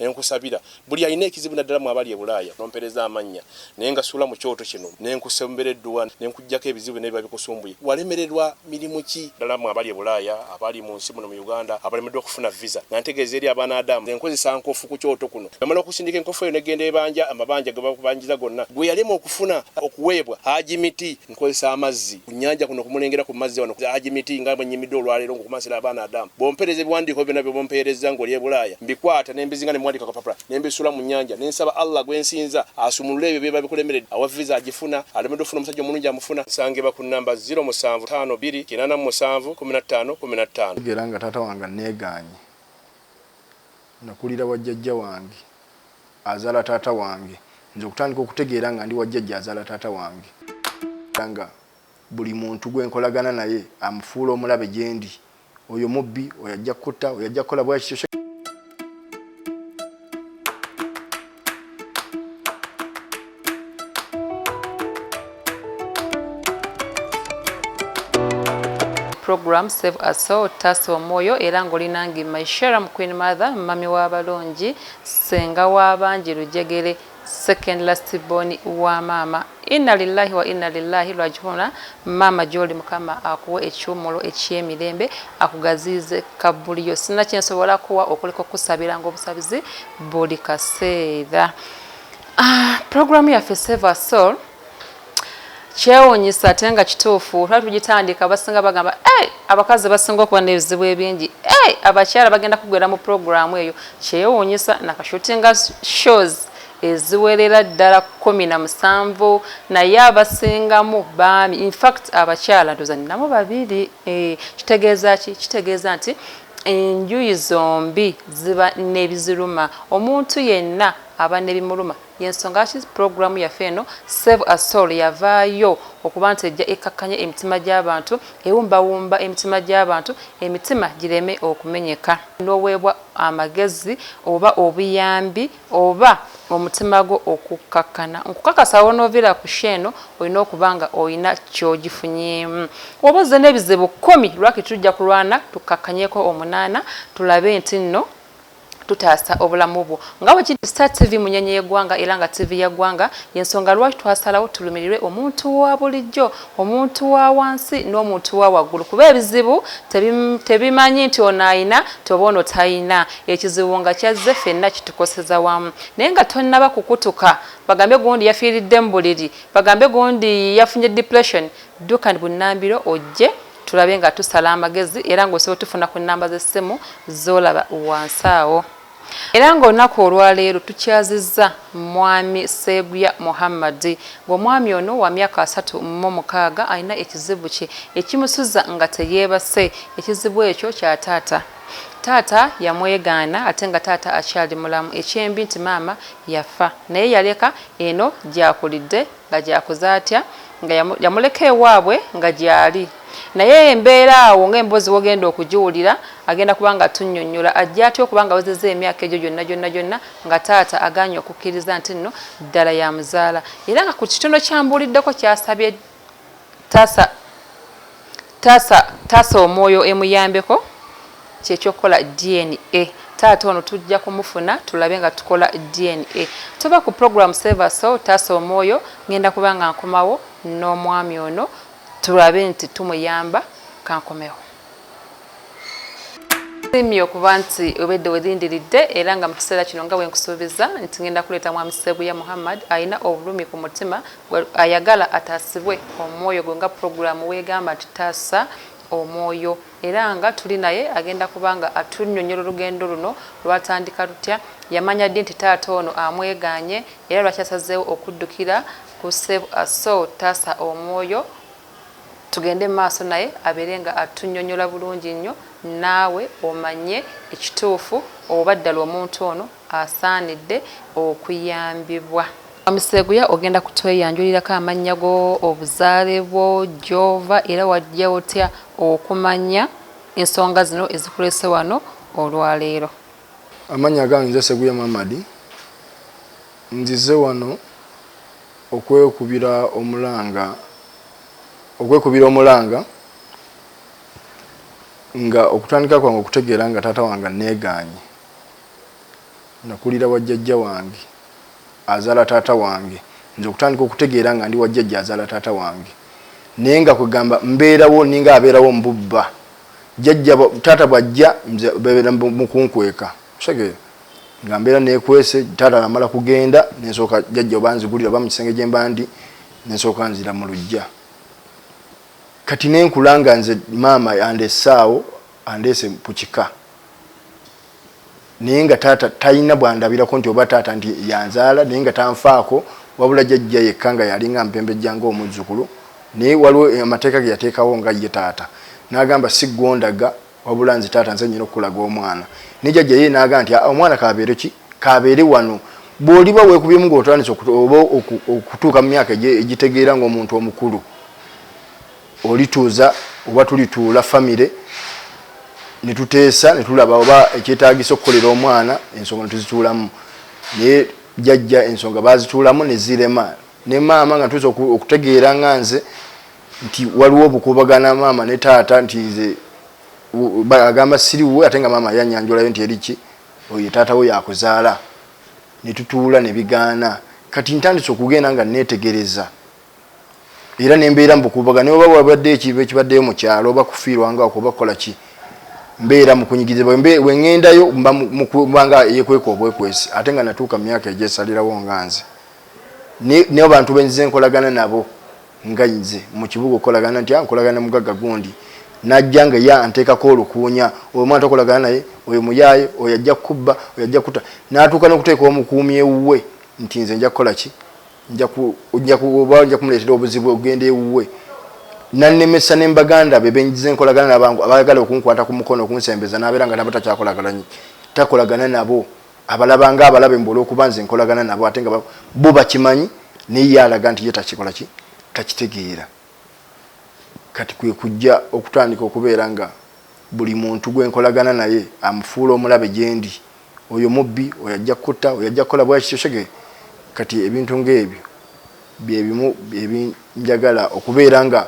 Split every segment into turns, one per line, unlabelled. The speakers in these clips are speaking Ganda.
nenkusabira buli alina ekizibu naddala mu abali ebulaaya nompereza amannya naye nga suula mu kyoto kino nenkusembera edduwa nenkujjako ebizibu byonna biba bikusumbuye walemererwa mirimu ki ddala mu abali ebulaaya abali mu nsi muno mu uganda abalemeddwa okufuna visa nga ntegeeza eri abaana adamu enkozesa nkofu ku kyoto kuno namala okusindika enkofu eyo negenda ebanja amabanja gebakubanjiza gonna gwe yalema okufuna okuweebwa haji miti nkozesa amazzi ku nyanja kuno kumulengera ku mazzi wano aji miti nga bwe nyimidde olwaleero ngokumansira abaana adamu bompereza ebiwandiiko byona bye bompeerezza ngoli ebulaaya mbikwata nembizinga nemwandika kapapula nembisula mu nyanja nensaba allah gwensinza asumulule ebyo byeba bikulemeredde awa visa agifuna alemedde ofuna omusajja omulungi amufuna nsangibwa ku namba 0 musanvu tano biri kinana mu musanvu kumi na ttaano kumi na ttaano tegera nga taata wange
aneeganye nakulira wa jjajja wange azaala taata wange nze okutandika okutegeera nga ndi wa jjajja azaala taata wange era nga buli muntu gwe nkolagana naye amufuula omulabe gye ndi oyo mubbi oyo ajja kukutta oyo ajja kukola bwa kityo
program save a soul taasa omwoyo era ng'olinange my sharam queen mother mumami w'abalungi senga w'abangi lujegere second last born wa maama inna lillahi wa inna lillahi lwajihuna maama gyoli mukama akuwa ekiwumulo ekyemirembe akugaziize kabbuliyo sinna kyensobola kuwa okuleka okusabira ngaobusabizi buli kaseera Uh, ah, programu yaffe Save Our Soul kyewunyisa ate nga kituufu lwali tugitandika abasinga bagamba hey, eh, abakazi basinga okuba n'ebizibu ebingi hey, eh, abakyala bagenda kugwera mu programu eyo kyewunyisa nakashutinga shows eziwerera ddala kumi na musanvu naye abasingamu baami infact abakyala ndoza ninamu babiri eh, kitegeeza ki kitegeeza nti enjuyi zombi ziba nebiziruma omuntu yenna aba nebimuluma yensonga lwaki program yaffe eno save a soul yavaayo okuba nti ejja ekkakkanya emitima gy'abantu ewumbawumba emitima gy'abantu emitima gireme okumenyeka n'oweebwa amagezi oba obuyambi oba omutima gwo okukkakkana nkukakasa wonooviira ku show eno olina okuba nga olina kyogifunyeemu oba ozze n'ebizibu kkumi lwaki tujja kulwana tukkakkanyeko omunaana tulabe nti nno tutaasa obulamu bwo nga bwe kiri Star TV munyenye y'eggwanga era nga TV ya ggwanga y'ensonga lwaki twasalawo tulumirirwe omuntu wa bulijjo omuntu wa wansi n'omuntu wa waggulu kuba ebizibu tebimanyi nti ono ayina toba ono tayina ekizibu nga kyazze fenna kitukoseza wamu naye nga tonnaba kukutuka bagambe gundi yafiiridde mu buliri bagambe gundi yafunye depression dduka bunnambiro ojje Tulabe nga tusala amagezi era ng'osobola otufuna ku nnamba z'essimu z'olaba wansi awo. Era ng'olunaku olwaleero tukyazizza Mwami Sseeguya Muhammad ng'omwami ono wa myaka asatu mu mukaaga alina ekizibu kye ekimusuza nga teyeebase. Ekizibu ekyo kya taata. Taata yamwegaana ate nga taata akyali mulamu. Ekyembi nti maama yafa naye yaleka eno gy'akulidde. Nga gyakoze atya? Nga yamuleka ewaabwe nga gyali. Naye embeera awo nga emboozi wogenda okugiwulira, agenda kuba nga atunyonyola. Ajja atya okuba nga awezeza emyaka egyo gyonna gyonna gyonna nga taata aganye okukiriza nti nno ddala yamuzaala? Era nga ku kitono kyambuuliddeko kyasabye. Taasa taasa taasa omwoyo emuyambeko kyekyokukola DNA taata ono tujja kumufuna tulabe nga tukola DNA toba ku program save so taasa omwoyo ngenda kubanga nkomawo n'omwami ono tulabe nti tumuyamba kankomewo. simye okuba nti obedde welindiridde era nga mu kiseera kino nga wenkusuubiza nti ngenda kuleeta mwami sebuya muhammad alina obulumi ku mutima ayagala ataasibwe omwoyo gwe nga pulogulaamu weegamba nti taasa omwoyo era nga tuli naye agenda kubanga atunyonyola olugendo luno lwatandika lutya yamanya ddi nti taata ono amweganye era lwakyasazeewo okuddukira ku save asol taasa omwoyo Tugende mumaaso naye abeere nga atunyonyola bulungi nnyo naawe omanye ekituufu oba ddala omuntu ono asaanidde okuyambibwa. Mwami Sseguya ogenda kutweyanjulirako amannya go, obuzaale bwo, gy'ova era wajja otya okumanya ensonga zino ezikuleese wano olwaleero. Amannya
gange nze Sseguya Muhammad. Nzize wano Okwekubira omulanga, Okwekubira omulanga nga okutandika kwange okutegeera nga taata wange anneegaanye. Nakulira wa jjajja wange azaala taata wange. Nze okutandika okutegeera nga ndi wa jjajja azaala taata wange naye nga kwegamba mbeerawo ninga abeerawo mu bubba. Jjajja taata bw'ajja nze beebeera mu kunkweka. Okitegere nga mbeera nekwese taata namala kugenda nensooka jajja oba nzigulira oba mu kisenge gye mba ndi nensooka nzira mu lujja kati nenkula nga nze maama andesaawo andeese ku kika naye nga taata talina bwandabirako nti oba taata nti yanzaala naye nga tanfaako wabula jajja yekka nga yalinga mpembejja nga omuzzukulu naye waliwo amateeka ge yateekawo nga ye taata n'agamba si gwondaga wabula nze taata nze nyina okukulaga omwana ne jajja ye naaga nti omwana kabeere ki kabeere wano bw'oliba weekubyemu ng'otandise oba okutuuka mu myaka egitegeera ng'omuntu omukulu olituuza oba tulituula famire ne tuteesa ne tulaba oba ekyetaagisa okukolera omwana ensonga ne tuzituulamu naye jajja ensonga baazituulamu ne zirema ne maama nga ntuuza okutegeera nga nze nti waliwo obukubagana maama ne taata nti nze agamba siri wuwe ate nga maama yanyanjulayo nti eriki oyo taata wo yakuzaala ne tutuula ne bigaana kati ntandise okugenda nga neetegereza era ne mbeera mu bukubagana oba wabadde ekintu ekibaddeyo mu kyalo oba kufiirwanga okuba kukola ki mbeera mukunyigiriza wengendayo mba mukubanga yekweka obwekwesi ate nga natuuka mu myaka egyesalirawo nga nze neo bantu benzize nkolagana nabo nga nze mu kibuga okolagana ntya nkolagana mugagga gundi najja nga ye anteekako olukuunya oyo omwana tokolagana naye oyo muyaaye oyo ajja kukubba oyo ajja kukuta n'atuuka n'okuteeka omukuumi ewuwe nti nze nja kukola ki oba nja kumuleetera obuzibu okugenda ewuwe nannemesa ne mbaganda be benyigiza enkolagana nabangu abaagala okunkwata ku mukono okunsembeza n'abeera nga nabo takyakolagana takolagana nabo abalaba nga abalabe mbu olwokuba nze nkolagana nabo ate nga bo bakimanyi naye ye alaga nti ye takikola ki takitegeera kati kwe kujja okutandika okubeera nga buli muntu gwe nkolagana naye amufuula omulabe gyendi oyo mubbi oyo ajja kutta oyo ajja kukola bwaki kyosege kati ebintu ng'ebyo bye bimu ebinjagala okubeera nga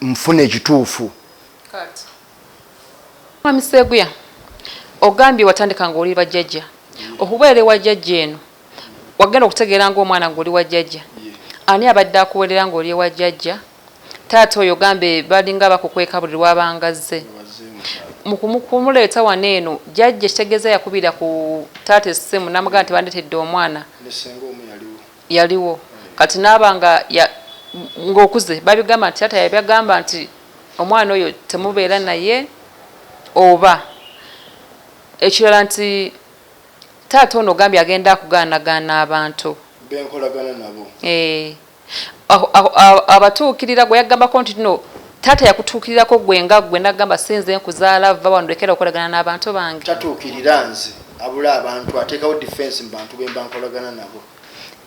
nfuna ekituufu
Mwami Sseguya, ogambye watandika ng'oli bajjajja okubeera ewa jjajja eno wagenda okutegeera ng'omwana ng'oli wa jjajja ani abadde akuwerera ng'oli ewa jjajja taata oyo gambe balinga bakukweka buli lwabanga zze mukumuleeta wano eno jjajja ekitegeeza yakubira ku taata essimu namugamba nti bandeetedde omwana Yaliwo kati naaba nga ya nga okuze babigamba nti taata yabagamba nti omwana oyo temubeera naye oba ekirala nti taata ono ogambye agenda akugaanagaana abantu benkolagana nabo
eeh
abatuukirira gwe yagambako nti no taata yakutuukirirako gwe nga gwe nagamba si nze nkuzaala vva wano lekera okolagana n'abantu bange. Tatuukirira nze
abula abantu ateekawo defence mu bantu bemba nkolagana nabo.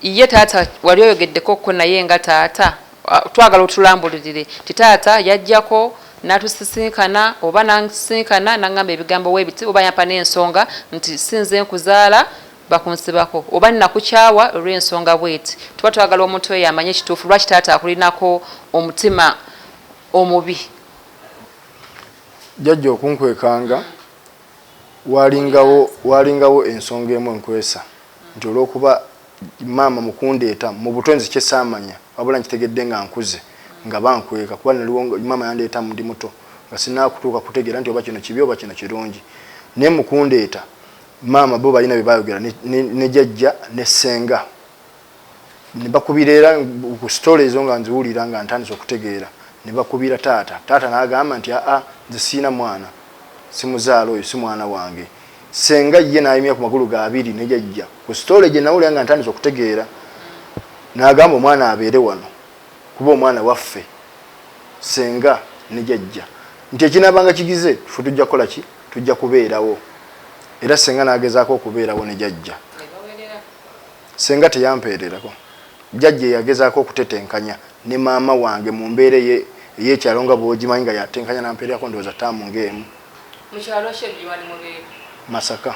Ye taata
wali oyogedeko ko naye nga taata twagala otulambululire nti taata yajjako natusisinkana oba nansisinkana nangamba ebigambo webiti oba yampa nensonga nti sinze nkuzaala bakunsibako oba nakukyawa olwensonga bweti tuba twagala omuntu oyo amanye ekituufu lwaki taata akulinako omutima omubi.
Jjajja okunkwekanga walingawo walingawo ensonga emu enkwesa nti olw'okuba maama mu kundeeta mu buto nzikye saamanya wabula nkitegedde nga nkuze nga bankweka kuba naliwo maama yandeeta ndi muto nga sinaakutuuka kutegeera nti oba kino kibi oba kino kirungi naye mu kundeeta maama bo balina bye baayogera ne jajja ne ssenga ne bakubira era ku sitole ezo nga nziwulira nga ntandise okutegeera ne bakubira taata taata n'agamba nti aa nze siina mwana simuzaala oyo si mwana wange Ssenga ye n'ayimya ku magulu ga abiri ne jajja ku sitoole gye nawulira nga ntandise okutegeera n'agamba omwana abeere wano kuba omwana waffe ssenga ne jajja nti ekinaabanga kigize ffe tujja kukola ki tujja kubeerawo era ssenga n'agezaako okubeerawo ne jajja ssenga teyampeererako jajja eyagezaako okutetenkanya ne maama wange mu mbeera ey'ekyalo nga bw'ogimanyi nga yatenkanya n'ampeererako ndowooza taamu ng'emu Mu kyalo ki e Bujwani mu Beeru? Masaka.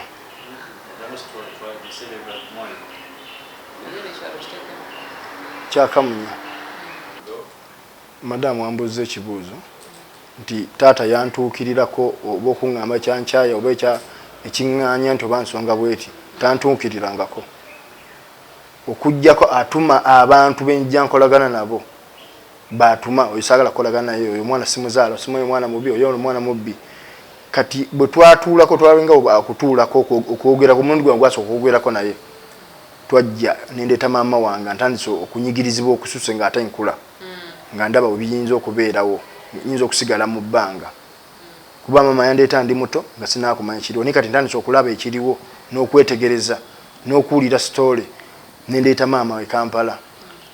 Kya Kamunya. Madam ambuuzza ekibuuzo nti taata yantuukirirako oba okuŋŋamba kyankyaya oba ekya ekiŋŋaanya nti oba nsonga bweti tantuukirirangako okuggyako atuma abantu be njja nkolagana nabo baatuma oyo saagala kukolagana naye oyo omwana simuzaala osima oyo omwana mubi oyo omwana mubbi kati bwe twatuulako twalinga okutuulako okwogera ku mulundi gwange gwasooka okwogerako naye twajja nendeeta maama wange ntandise okunyigirizibwa okususe nga ate nkula hmm. nga ndaba webiyinza okubeerawo nyinza okusigala mu bbanga kuba maama yandeeta ndi muto nga sinaakumanya kiriwo naye kati ntandise okulaba ekiriwo n'okwetegereza n'okuwulira sitoole nendeeta maama we kampala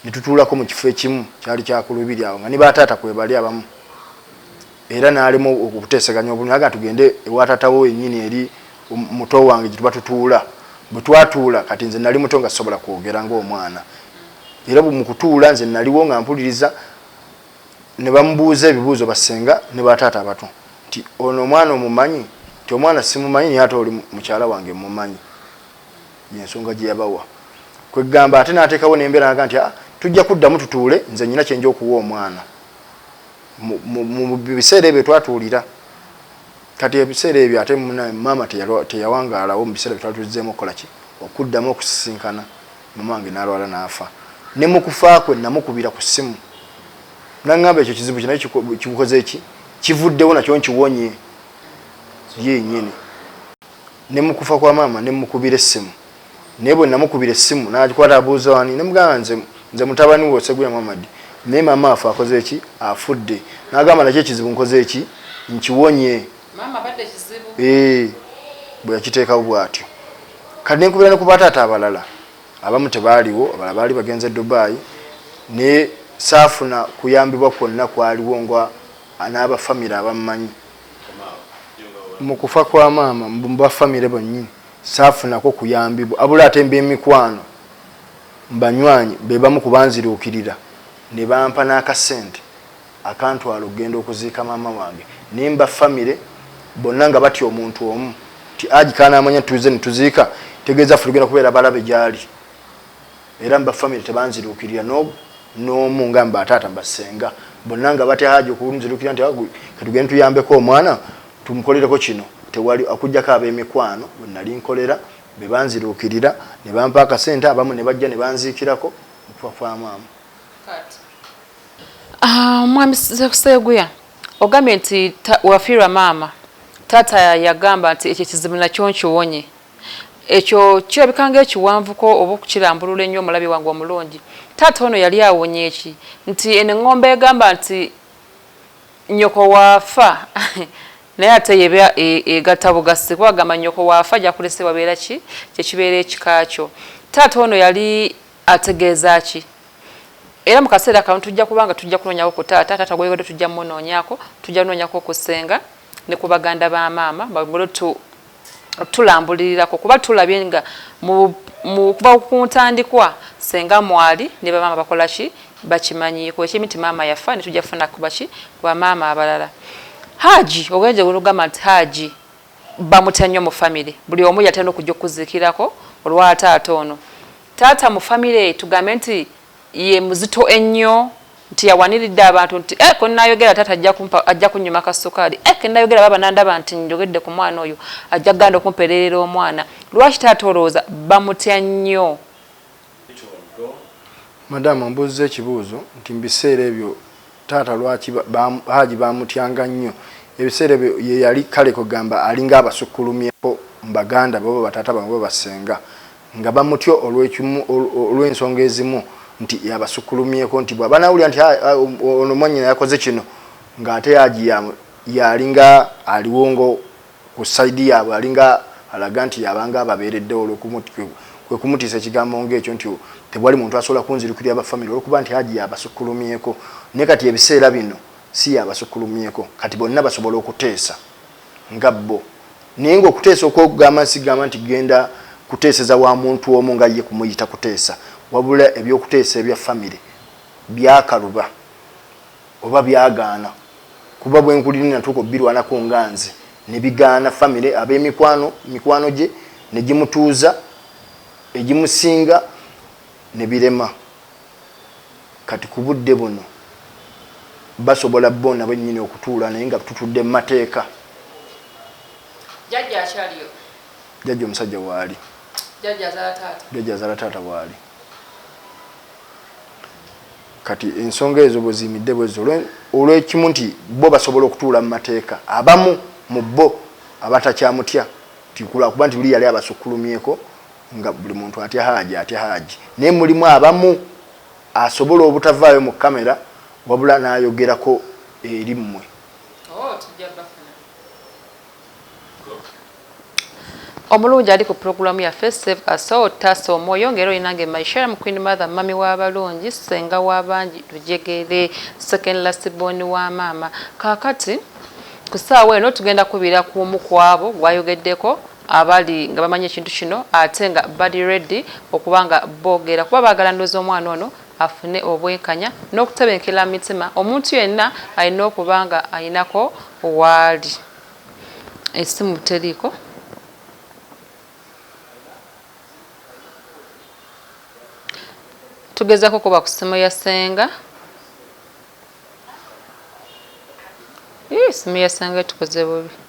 ne tutuulako mu kifo ekimu kyali kya ku lubiri awo nga ne ba taata kwe bali abamu era n'alema okuteeseganya obulungi aga tugende ewa taata wo wennyini eri um, muto wange gye tuba tutuula bwe twatuula kati nze nali muto nga sisobola kwogera ng'omwana era mu kutuula nze naliwo nga mpuliriza ne bamubuuza ebibuuzo basenga ne ba taata abato nti ono omwana omumanyi nti omwana simumanyi naye ate oli mukyala wange mumanyi yensonga gyeyabawa kwegamba ate natekawo nembera naga nti ah, tujja kuddamu tutuule nze nyina kyenja okuwa omwana mu biseera ebyo twatuulira kati ebiseera ebyo ate maama teyawangaalawo mu biseera byetwatuzzeemu okukolaki okuddamu okusisinkana mama wange nalwala naafa ne mu kufa kwe namukubira ku ssimu naŋŋamba ekyo kizibu kinaye kikukoze ki kivuddewo nakyo nkiwonye yenyini ne mu kufa kwa maama ne mmukubira essimu naye bwe namukubira essimu n'agikwata abuuza wani ne mugamba nze nze mutabani wo Seguya Muhammad naye maama afa akoze ki afudde n'agamba nakyo ekizibu nkoze ki nkiwonye maama abadde ekizibu ee bwe yakiteekawo bw'atyo kati ne nkubira ne ku bataata abalala abamu tebaaliwo abalala baali bagenze Dubai ne saafuna kuyambibwa kwonna kwaliwo nga n'abafamire abammanyi mu kufa kwa maama mba famire bonyini saafunako kuyambibwa abula ate mba emikwano mbanywanyi bebamu kubanziruukirira ne bampa n'akasente akantwala okugenda okuziika maama wange naye mba famire bonna nga batya omuntu omu nti aji kanaamanya tuze ne tuziika tegeeza ffe tugenda kubeera balabe gy'ali era mba family tebanzirukirira no nomu nga mba tata mba senga bonna nga bate haji okunzirukira nti agu katugende tuyambe ko omwana tumukolere ko kino tewali akujja ka be mikwano bonna linkolera be banzirukirira ne bampa ka sente abamu ne bajja ne banzikirako kwa kwa mama kati
ah mwami sekuseguya ogambye nti wafirwa mama tata yagamba nti ekyo kizibu nakyo nkiwonye Ekyo kirabika ng'ekiwanvuko oba okukirambulula ennyo, omulabe wange omulungi. Taata ono yali awonye ki? Nti eno eŋŋombe egamba nti, Nnyoko w'afa, naye ate y'eba e, egatta bugassi, kuba bagamba nnyoko w'afa gy'akulese wabeera ki? Kye kibeera ekika kyo. Taata ono yali ategeeza ki? Era mu kaseera kano tujja kuba nga tujja kunoonyako ku taata, taata gw'oyogeddeko tujja mmunoonyako, tujja noonyako ku ssenga ne ku baganda ba maama, by ngolo tu, tulambulirirako kuba tulabye nga okuva ku ntandikwa senga mwali ne bamaama bakola ki bakimanyiiko ekimu nti maama yafa ne tujja kufuna kuba ki ku bamaama abalala haaji ogenje olugamba nti haaji bamutya nnyo mu famire buli omu yatera okujja okukuziikirako olwa taata ono taata mu famire tugambe nti ye muzito ennyo nti yawaniridde abantu nti eh, kwe nayogera taata ajja kunyuma ka sukaali eh, ke nayogera baba nandaba nti njogedde ku mwana oyo ajja kuganda okumpererera omwana lwaki taata olowooza bamutya nnyo
madamu mbuuzza ekibuuzo nti mubiseera ebyo taata lwaki haji bamutyanga nnyo ebiseera ebyo yeyali kale kwegamba alinga abasukkulumyeko mubaganda baba bataata bamwe babasenga nga bamutya olw'ensonga ezimu nti yabasukulumyeko nti bwaba nawulira nti ah, ah, um, ono mwanyina yakoze kino ng'ate yaji yalinga aliwo ngo ku saidi yaabwe alinga alaga nti yabanga ababeereddewo kwe kumutiisa ekigambo ng'ekyo nti tewali muntu asobola kunzirukira abafamire olwokuba nti haji yabasukulumyeko naye kati ebiseera bino si yabasukulumyeko kati bonna basobola okuteesa nga bo naye nga okuteesa okwokugamba nsigamba nti genda kuteeseza wa muntu omu nga ye kumuyita kuteesa wabula ebyokuteesa ebya famire byakaluba oba byagaana kuba bwenkulire natuuka obirwanako nga nze nebigaana famire abemikwano mikwano gye negimutuuza egimusinga nebirema kati ku budde buno basobola bona benyini okutuula naye nga tutudde mu mateeka
jajja akyaliyo jajja omusajja
waali
jajja azala taata waali
kati ensonga ezo bweziyimidde bwezo olwekimu nti bo basobola okutuula mu mateeka abamu mu bo abatakyamutya tikulakuba nti luli yali abasukkulumyeko nga buli muntu atya haaji atya haaji naye mulimu abamu asobola obutavaayo mu kamera wabula n'ayogerako eri mmwe
oh, omulungi ali ku pulogulaamu yaffe save asol taasa omwoyo ngaera olinange myshare mu queen mother mami w'abalungi senga w'abangi lujegere second last born wa maama kaakati ku ssaawa eno tugenda kubira ku omu ku abo gwayogeddeko abali nga bamanyi ekintu kino ate nga bali ready okuba nga bogeera kuba bagala ndoza omwana ono afune obwenkanya n'okutebenkela mu mitima omuntu yenna alina okuba nga alinako waali esimu teriiko tugezako kuba ku simu ya senga simu ya senga tukoze bubi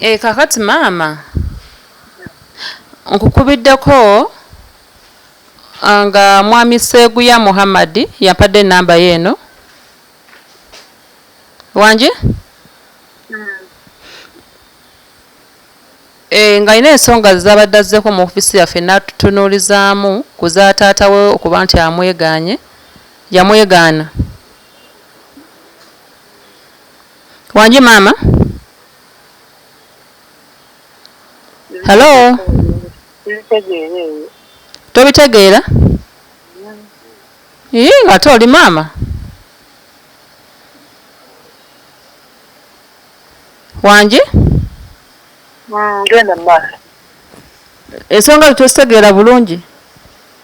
Eeh kakati maama nkukubiddeko ah, nga mwami Seeguya Muhammad yampadde enamba ye eno wangi eh, nga alina ensonga zezabadde azzeeko mu ofisi yaffe natutunuulizaamu ku za taata we okuba nti amweganye yamwegaana Wangi maama. Hello. Tobitegeera? Yii mm. ng'ate oli maama. Wangi?
Ngenda maaso.
Ensonga zo tozitegeera bulungi.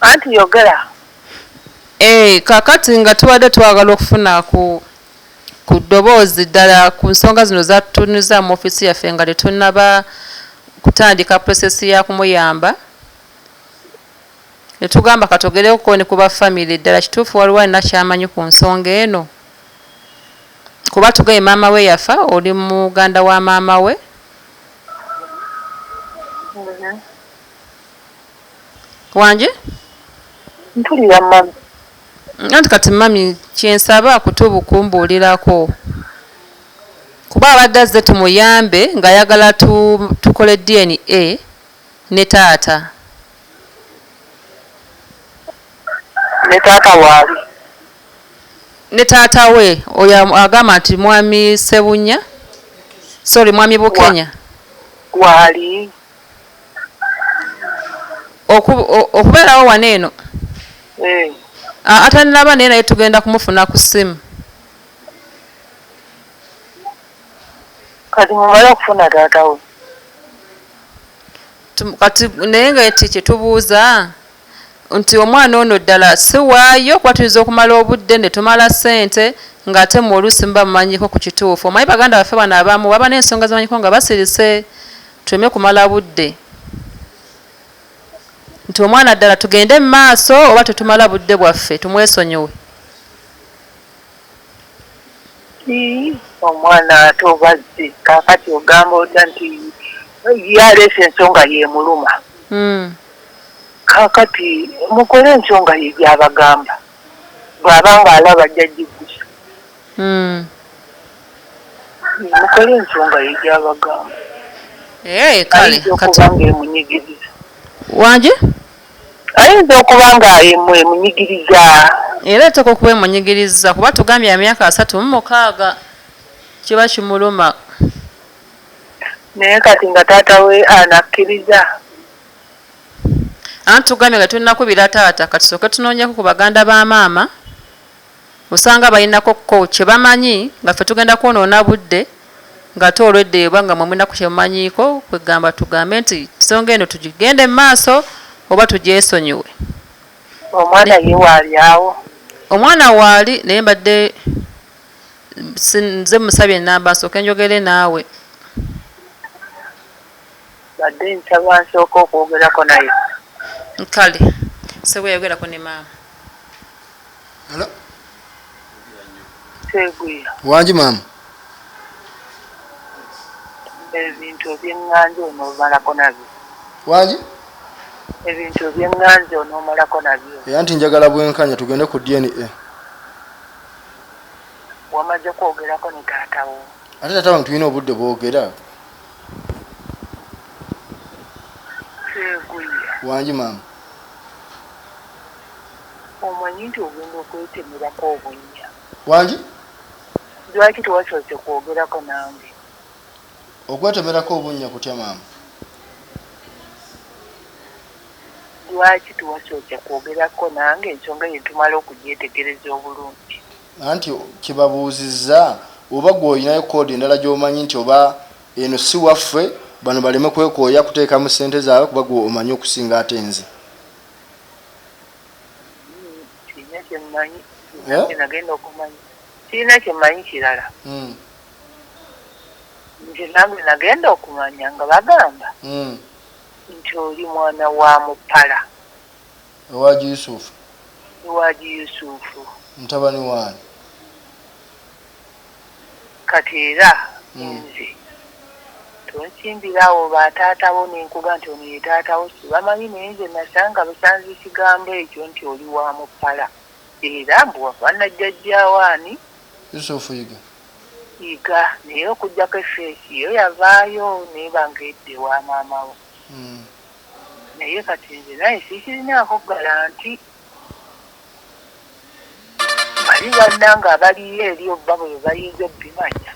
Anti
yogera. Eh, kakati
nga tubadde twagala okufuna ku ku ddoboozi ddala ku nsonga zino zatunyuza mu office yaffe nga tetunaba kutandika process ya kumuyamba netugamba katogereko ne kuba family ddala kituufu waliwo alina kyamanyi ku nsonga eno kuba tugambye maama we yafa oli muganda wa maama we wangi
ntulira mami anti
kati mami kyensaba kutubu kumbuulirako kuba abadde azze tumuyambe ng'ayagala tukole dna ne taata
ne taata waali.
Ne taata we oyo agamba nti mwami Sebunya sorry mwami Bukenya waali okubeerawo wano eno eh. atanilaba naye naye tugenda kumufuna ku simu
kati mumale okufuna taata we
Kati naye nga nti kyetubuuza nti omwana ono ddala si waayo kuba tuyinza okumala obudde ne tumala ssente ng'ate mmwe oluusi muba mumanyiko ku kituufu. Omanyi baganda baffe bano abamu baba n'ensonga ze bamanyiko nga basirise tuleme kumala budde nti omwana ddala tugende mu maaso oba tetumala budde bwaffe tumwesonyiwe.
Yii omwana ate oba azze kakati ogamba otya nti ye aleese ensonga yemuluma mm. kakati mukole ensonga ye gyabagamba bwaba nga alaba ajja jiggusa mm. mukole ensonga ye gyabagamba eh,
ayinza okuba nga
emunyigiriza wanje Ayinza okuba nga ye mwe munyigiriza. Era
ateekwa okuba ye munyigiriza kuba atugambye ya myaka asatu mu mukaaga. Kiba kimuluma.
Naye kati nga taata we anakkiriza?
Anti tugambye nga tetunnakubira taata, kati tusooke tunoonyeko ku baganda ba maama Osanga balinako ko kyebamanyi nga ffe tugenda kwonoona budde ngate olwedda eyo banga mwe mulinako kyemumanyiiko kwegamba tugambe nti nsonga eno tugigende mumaaso oba tugyesonyiwe
Omwana ye waali awo? Omwana waali
naye mbadde nze musabye enamba nsooke njogere naawe. Mbadde
nsaba nsooke okwogerako naye. Kale
ssebo yayogerako ne maama.
Seguya. Wangi maama. Ebintu eby'enganja onoomalako nabyo. Wangi? Ebintu eby'enganja onoomalako nabyo. Era nti njagala bwenkanya
tugende ku DNA.
Wamaze kwogerako ne taata wo. Ate taata wange tulina
obudde bwogera.
Seguya. Wangi maama. Omanyi nti ogenda okwetemerako obunnya. Wangi? Lwaki tewasoose kwogerako nange?
Okwetemerako obunnya kutya maama?
Lwaki tewasoose kwogerako nange ensonga eyo ne tumala okugyetegereza obulungi? Anti
kyebabuuzizza oba gwe olinayo kkoodi endala gy'omanyi nti oba eno si waffe bano baleme kwekooya kuteekamu ssente zaabwe kuba gwe omanyi okusinga ate nze.
kirina kyemanyi kirala hmm. nze nange nagenda okumanya nga bagamba hmm. nti oli mwana wa mupala
ewaji yusufu ewaji
yusufu mutabani waani Kati era nze tonsimbira awo ba taata bo nenkuga nti ono ye taata wo sibamanyi naye nze nasanga busanzi kigambo ekyo nti oli wa mupala era mbu wafaanana jjajja wo ani? Yusufu
Yiga. Yiga
naye okujjako efeesi yo yavaayo neba nga edda ewa maama wo naye kati nze naye sikirinaako galanti. Bali bannange abaliyo eri oba bwe bayinza okubimanya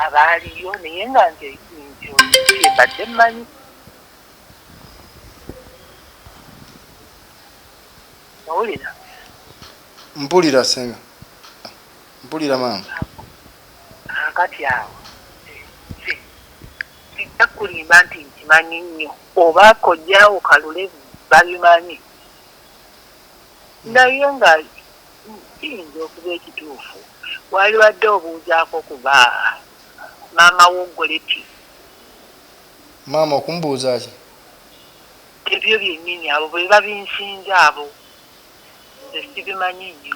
abaaliyo naye nga nze kyembadde mmanyi owulira
mpulira senga mpulira maama
akati awo kijja kulimba nti nkimanyi nnyo oba kojjaawo kalule babimanyi Naye nga kiyinza okuba ekituufu walibadde obuuzaako ku ba maama wo Goretti.
Maama okumubuuza ki?
Ebyo byennyini abo bebabinsinza abo nze sibimanyi nnyo.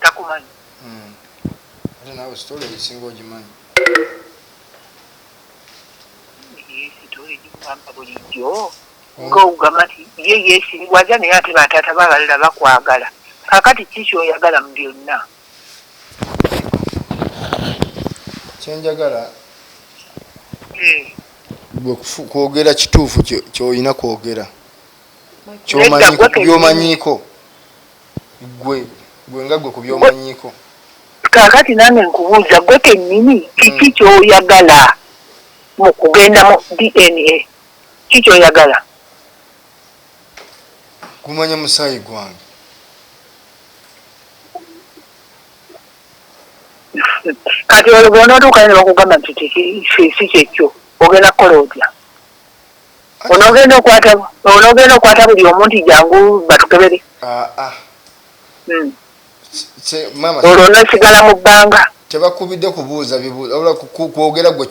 takumanyi hmm.
ate nawe sitole esinga ogimanyi
bulijjo hmm. nga ogamba nti ye yesiriwaza naye ate bataata babalala bakwagala kakati kiki oyagala mu byonna
kyenjagala hmm. kwogera kituufu kyolina kwogera kubyomanyiiko gwe gwe nga gwe kubyomanyiiko kakati
nange nkubuuza gwe kenyini kiki hmm. kyoyagala mu kugenda mu dna ki kyoyagala
kumanya musaayi gwange
kati olwo bwonotuukayo nebakugamba nti kiki si kyekyo ogenda kukola otya Onogenda okwata onogenda okwata buli omu nti jangu batukebere aa hmm. olwo onosigala mu bbanga tebakubidde kubuuza
bibuuza kwogera gwe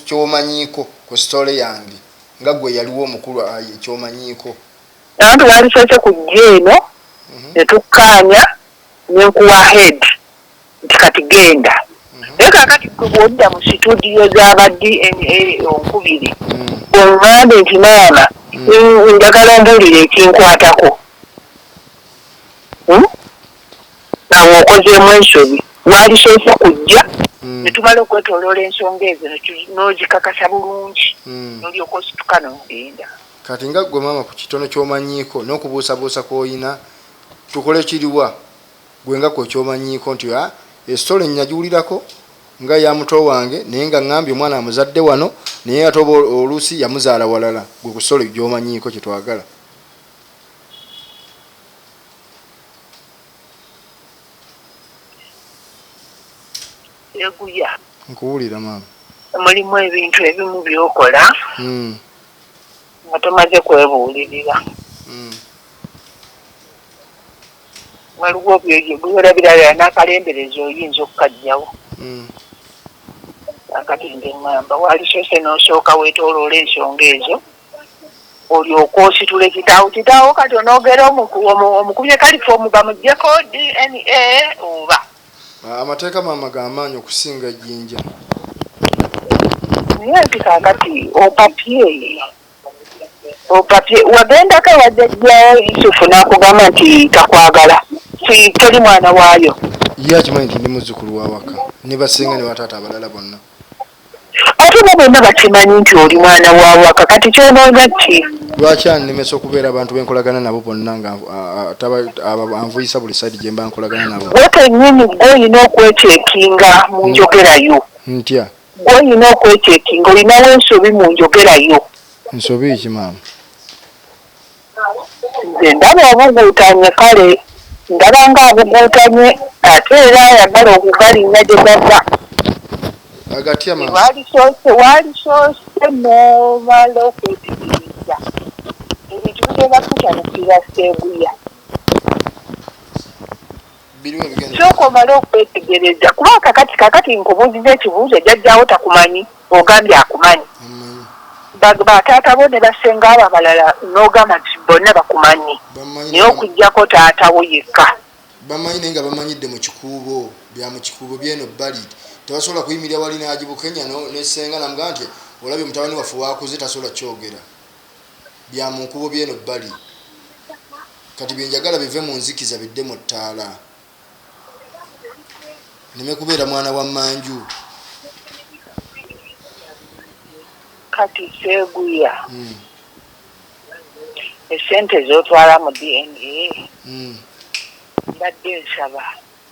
kyomanyiiko ku sitole yange nga gwe yaliwo omukulu kyomanyiiko abantu
baalisoose ku jja eno mhm. ne tukkaanya ne nkuwa head nti kati genda mhm. naye kakati gwe bwodda mu situdiyo zaba dna onkubiri mhm. ongambe nti maama mhm. njagala ombuulire ekinkwatako hmm? awo okozeemu ensobi walisoose kujja netumala okwetoloola ensonga ezo nozikakasa bulungi nolyoka osituka nogenda kati nga gwe
maama ku kitono kyomanyiiko n'okubuusabuusa kwoyina tukole kiriwa Gwe nga kwe kyomanyiiko nti a e story nyajiwulirako nga eya muto wange naye nga ngambye omwana amuzadde wano naye ate oba olusi yamuzaala walala gwe ku story gyomanyiiko kyetwagala Seguya.
Nkuwulira maama.
Mulimu ebintu
ebimu byokola mm. nga tomaze kwebuulirira mm. waliwo byolabiralala n'akalembereza oyinza okukajjawo hmm. akati nze ŋŋamba walisoose n'osooka weetooloola ensonga ezo olyoka ositula ekitaawo kitaawo kati onoogera omukubye kalifoomu bamugyeko dna oba ah, amateeka
maama gamaanyi okusinga ejjinja
naye nti kakati opapye Opapye wagendako ewa jajja Yusufu nakugamba nti takwagala nti toli mwana waayo. Ye akimanyi nti
ndi muzzukulu wa waka ne ba ssenga ne ba taata abalala bonna.
Ate bo bonna bakimanyi nti oli mwana wa waka kati kyonoonya ki? Lwaki annemesa
okubeera abantu be nkolagana nabo bonna nga anvuyisa buli sayidi gye mba nkolagana nabo? Ggwe kennyini ggwe
olina okwecakinga mu njogera yo. Ntya?
Gwe olina
okwechekinga olinawo ensobi mu njogera yo. Nsobi ki
maama?
Nze ndaba obuguutanye kale ndaba nga abuguutanye ate era ayagala okugalinnya gye gava.
Agatya maama? Waalisoose waalisoose
n'omala okwetegereza ebintu bigenda kutabukira Sseguya. Kyoka omale okwetegereza kuba kakati kakati nkubuuziza ekibuuzo jajjaawo takumanyi ogambye akumanyi ba taata bo ne basenga abo abalala nogamba nti bonna bakumanyi naye okujjako taata wo yekka bamanyi naye nga
bamanyidde mu kikuubo bya mu kikuubo byeno bbali tebasobola kuyimirira wali nagibukenya nesenga namugamba nti olabye mutabani waffe wakuze tasobola kyogera bya mu nkuubo by'eno ebbali. Kati bye njagala bive mu nzikiza bidde mu ttaala. Nneme kubeera mwana wa mmanju.
Kati Sseguya, hmm. essente z'otwala mu DNA hmm. mbadde nsaba.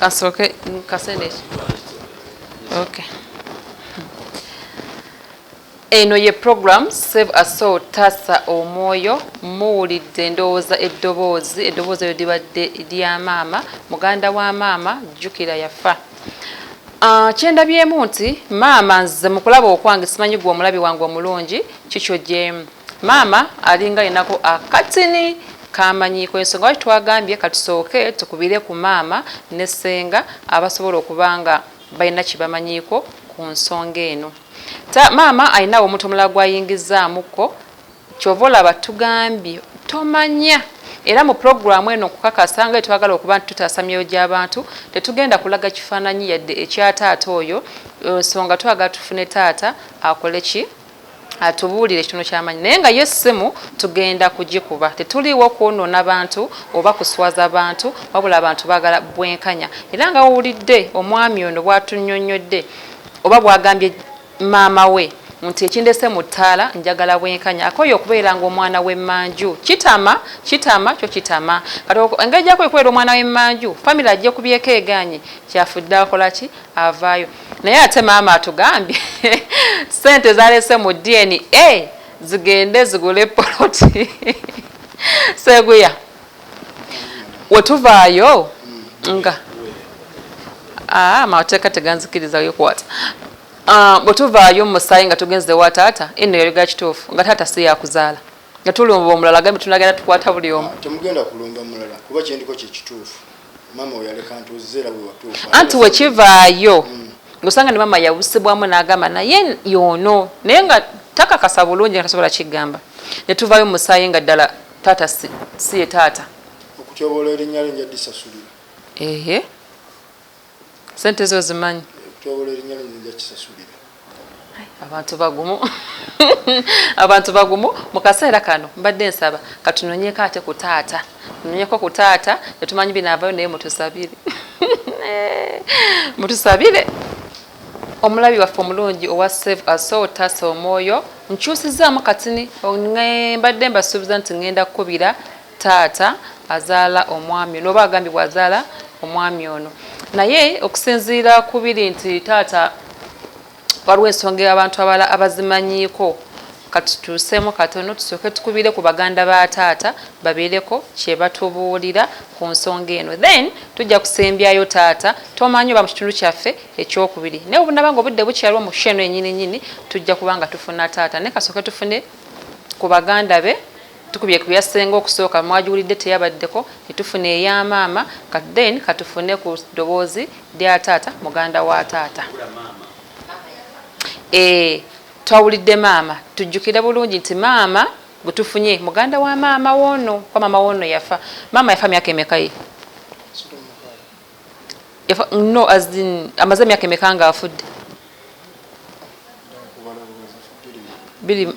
kasooke kasende okay eno ye program save a soul tasa omwoyo muwulidde endowooza eddoboozi eddoboozi eryo libadde lya maama muganda wa maama jjukira yafa ah, kyendabyemu nti maama nze mukulaba okwange simanyi gwe omulabi wange omulungi kikyojemu Maama alinga alinako akatini kamanyiiko yensonga lwaki twagambye katusooke tukubire ku maama ne ssenga abasobola okuba nga balina kyebamanyiiko ku nsonga eno. Maama alinawo omuntu omulala gwayingizaamukko kyova olaba tugambye tomanya era mu pulogulaamu eno okukakasa nga etwagala okuba nti tutaasa myoyo gy'abantu tetugenda kulaga kifaananyi yadde ekya taata oyo nsonga twagala tufune taata akole ki atubuulire ekitono kyamanyi naye nga ye simu tugenda kugikuba tetuliiwo kwonoona bantu oba kuswaza bantu wabula abantu bagala bwenkanya era nga wowulidde omwami ono bwatunyonyodde oba bwagambye maama we nti ekindese mu ttaala njagala bwenkanya akoye okubeera nga omwana w'emmanju kitama kitama kyo kitama kati engeri gyakoye okubeera omwana w'emmanju famiry ajja kubyeko eganye kyafudde akolaki avaayo naye ate maama atugambye sente zalese mu dna zigende zigule poloti seguya wetuvaayo nga ah, amateeka teganzikiriza yokwata ah, bwetuvaayo mumusaayi nga tugenze wa taata eno yaliga kituufu nga taata si yakuzaala nga tulumba omulala gambe tunagenda tukwata buli omu ah, temugenda kulumba mulala
kuba kyendiko kyekituufu Mama oyaleka ntuze era wewatuuka. Anti wekivaayo
mm. ngosanga ne mama yawusibwamu n'agamba naye yono naye nga takakasa bulungi nga tasobola kigamba ne tuvaayo musaayi nga ddala taata si, si ye taata okutyoboola
erinnya lyo nja disasulira ehe
sente zo zimanyi okutyoboola erinnya lyo
nja kisasulira abantu bagumu
abantu bagumu mu kaseera kano mbadde nsaba katunonyeko ate ku taata nonyeko ku taata etumanyi binaavayo naye mutusabire mutusabire omulabi waffe omulungi owa save asol taasa omwoyo nkyusizaamu katini mbadde mbasuubiza nti ŋŋenda kukubira taata azaala omwami ono oba agambibwa azaala omwami ono naye okusinziira ku biri nti taata waliwo ensonga abantu abala abazimanyiiko katutuuseemu katono tusooke tukubire ku baganda ba taata babeereko kyebatubuulira ku nsonga eno then tujja kusembyayo taata tomanyi oba mu kitundu kyaffe ekyokubiri naye obunaba nga obudde bukyaliwo mu sheno enyini nyini tujja kuba nga tufuna taata naye kasooke tufune ku baganda be Tukubye ku ya ssenga okusooka mwagiwulidde teyabaddeko ne tufuna eya maama kati then ka tufune ku ddoboozi lya taata muganda wa taata. Eeh twawulidde maama tujjukire bulungi nti maama gwe tufunye muganda wa maama w'ono kuba maama w'ono yafa. Maama yafa myaka emeka ye? no as in amaze emyaka emeka nga afudde biri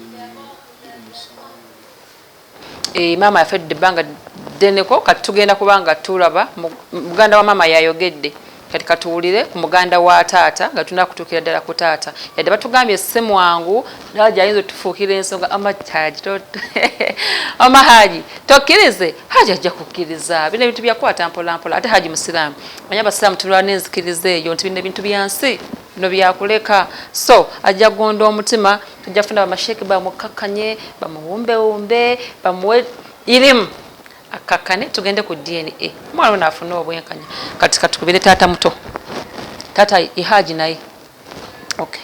eh, maama yafedde ebbanga ddeneko kati tugenda kubanga tulaba muganda wa maama yayogedde kati katuwulire ku muganda wa taata nga tulina kutuukira ddala ku taata yadde batugambye si mwangu nawe gyayinza otufuukira ensonga amahaji amahaji tokkirize haji ajja kukkiriza bino ebintu byakwata mpolampola ate haji musiraamu manya abasiraamu tulwa n'enzikiriza eyo nti bino ebintu bya nsi bino byakuleka so ajja gonda omutima ajja funa bamasheeke bamukkakkanye bamuwumbewumbe bamuwe irimu akkakkane tugende ku dna omwana ono afune obwenkanya kati katukubire taata muto taata ihaji naye okay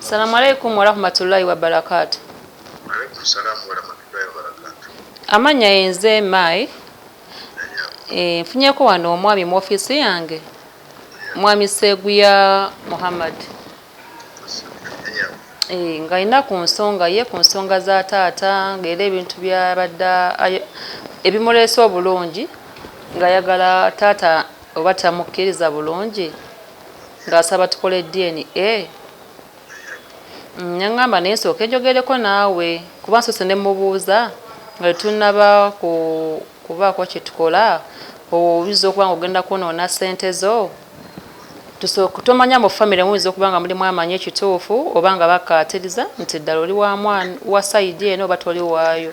Salamu alaikum warahmatullahi wabarakatu.
Amanya yenze
mai e, nfunyeko wano omwami mu ofisi yange mwami Seguya Muhammad e, nga alina ku nsonga ye ku nsonga za taata ngaera ebintu byabadde ebimuleese obulungi ng'ayagala taata oba tamukkiriza bulungi ng'asaba tukole DNA nengamba naye nsooke njogereko naawe kuba nsoose ne mubuuza nga tetunnaba kubaako kye tukola oyinza okuba nga ogenda kwonoona ssente zo tomanya mu famire muyinza okuba nga mulimu amanyi ekituufu oba nga bakkaatiriza nti ddala oli wa sayidi eno oba toli waayo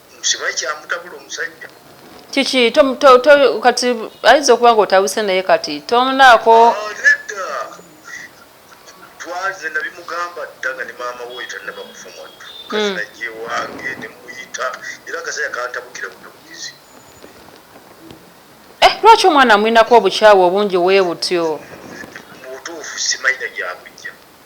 simanyi kyamutabula omusajja kiki
kati ayinza okuba nga otabuse naye kati tonaako
ah, twaze nabimugamba dda nga ne maama woyo tanaba kufa mwattu kazinaje hmm. wange nemuyita era akasaya kantabukira butubukizi
eh, lwaki omwana amwinako obukyawu obungi webutyo
mubutuufu simayina gyakujja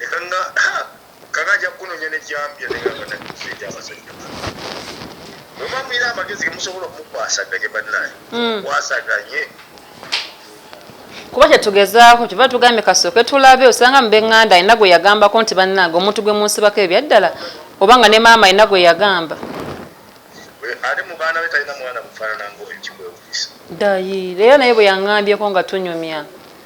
Ekanga kanga ajja kukunonya ne jambya ne nga bana kifeja abasajja. Mama mwira amagezi ke musobola okukwasa gaje banaye. Mm. Kwasa gaje.
Kuba kye tugezaako kiba tugambye kasooke tulabe osanga mu benganda alina gwe yagambako nti bannange omuntu gwe munsibako ebyaddala oba nga ne maama alina gwe yagamba
ate mu baana be talina mwana mufaanana ngaoyo kikwewuisa ddayi leero
naye bwe yaŋŋambyeko nga tunyumya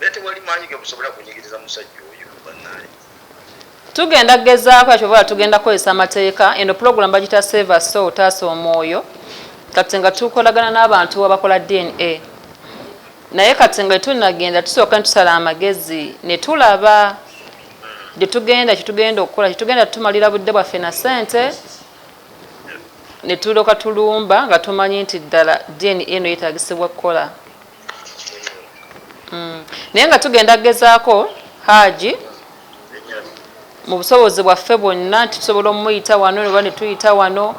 Naye
tewali maanyi ge musobola kunyigiriza musajja oyo bannaye. Tugenda
gezaako ekyo bwala tugenda kukozesa amateeka eno pulogulamu bagita save a soul taasa omwoyo kati nga tukolagana n'abantu abakola DNA naye kati nga tetunnagenda tusooka ne tusala amagezi ne tulaba gye tugenda kye tugenda okukola kye tugenda tumalira budde bwaffe na ssente ne tulooka tulumba nga tumanyi nti ddala DNA eno yeetaagisibwa kukola Mm. naye nga tugenda kugezaako haaji mu busobozi bwaffe bwonna nti tusobola omumuyita wano oba netuyita wano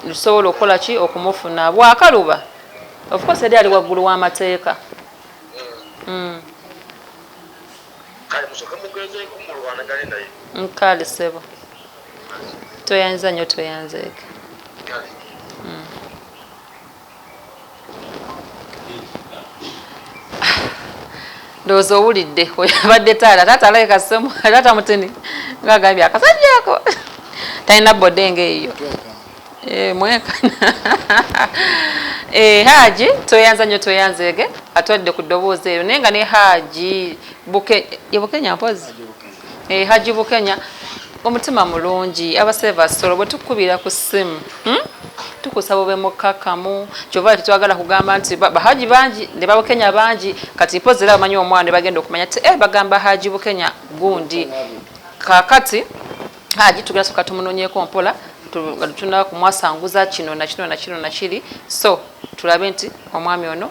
tusobola okukola ki okumufuna bwakaluba ofcourse eri ali waggulu w'amateeka mm.
nkale sebo
tweyanziza nyo tweyanzeeka ndowooza owulidde abadde taata taata alabika semu taata mutini nga agambye akasajja ako talina bode nga eyo eh, mwekana eh, haaji tweyanza nyo tweyanzeege atwadde ku ddoboozi eyo naye nga ne haaji bukenya mpozi Eh, Hajji Bukenya omutima mulungi abasebe basolo bwe tukubira ku ssimu hmm? tukusaba obe mukkakkamu kyova tetwagala kugamba nti bahaji bangi ne babukenya bangi kati mpozi era bamanyi omwana ne bagenda okumanya ti e eh, bagamba haji bukenya gundi kakati haji tugenda soka tumunonyeko mpola tunaba kumwasanguza kino nakino nakino nakiri so tulabe nti omwami ono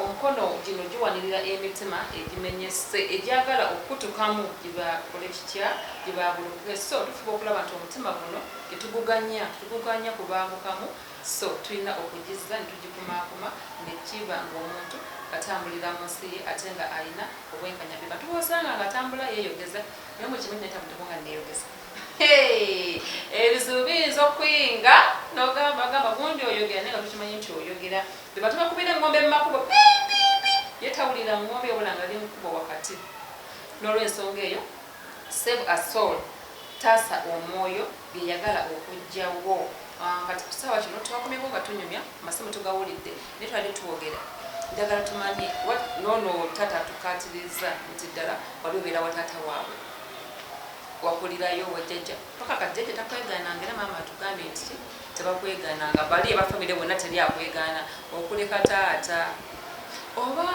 Omukono gino giwanirira emitima egimenyesse egyagala okukutukamu gibakole kitya? Gibaagulukuke so tufuba okulaba nti omutima guno tetuguganya tuguganya kubaagukamu so tulina okugizza ne tugikumaakuma ne kiba ng'omuntu atambulira mu nsi ye ate nga alina obwenkanya be bantu b'osanga nga atambula yeeyogeza naye mu kimu netamuteko nga neeyogeza ebizibu biyinza okuyinga n'ogamba gamba gundi oyogera naye nga tukimanyi nti oyogera Bwebatuuka kubira engombe mumakubo pii pii pii ye tawulira ngombe wabula nga ali mukubo wakati nolwensonga eyo save a soul taasa omwoyo byeyagala okujja wo ah, kati kusaawa kino twakomyeko nga tunyumya masimu tugawulidde naye twali twogera njagala tumanye nono tata tukatiriza nti ddala wali obeera wa taata waabwe wakulirayo wajjaja paka kajjaja takweganangera maama atugambye nti Tebakwegaana nga bali aba family bonna teli akwegaana okuleka taata oba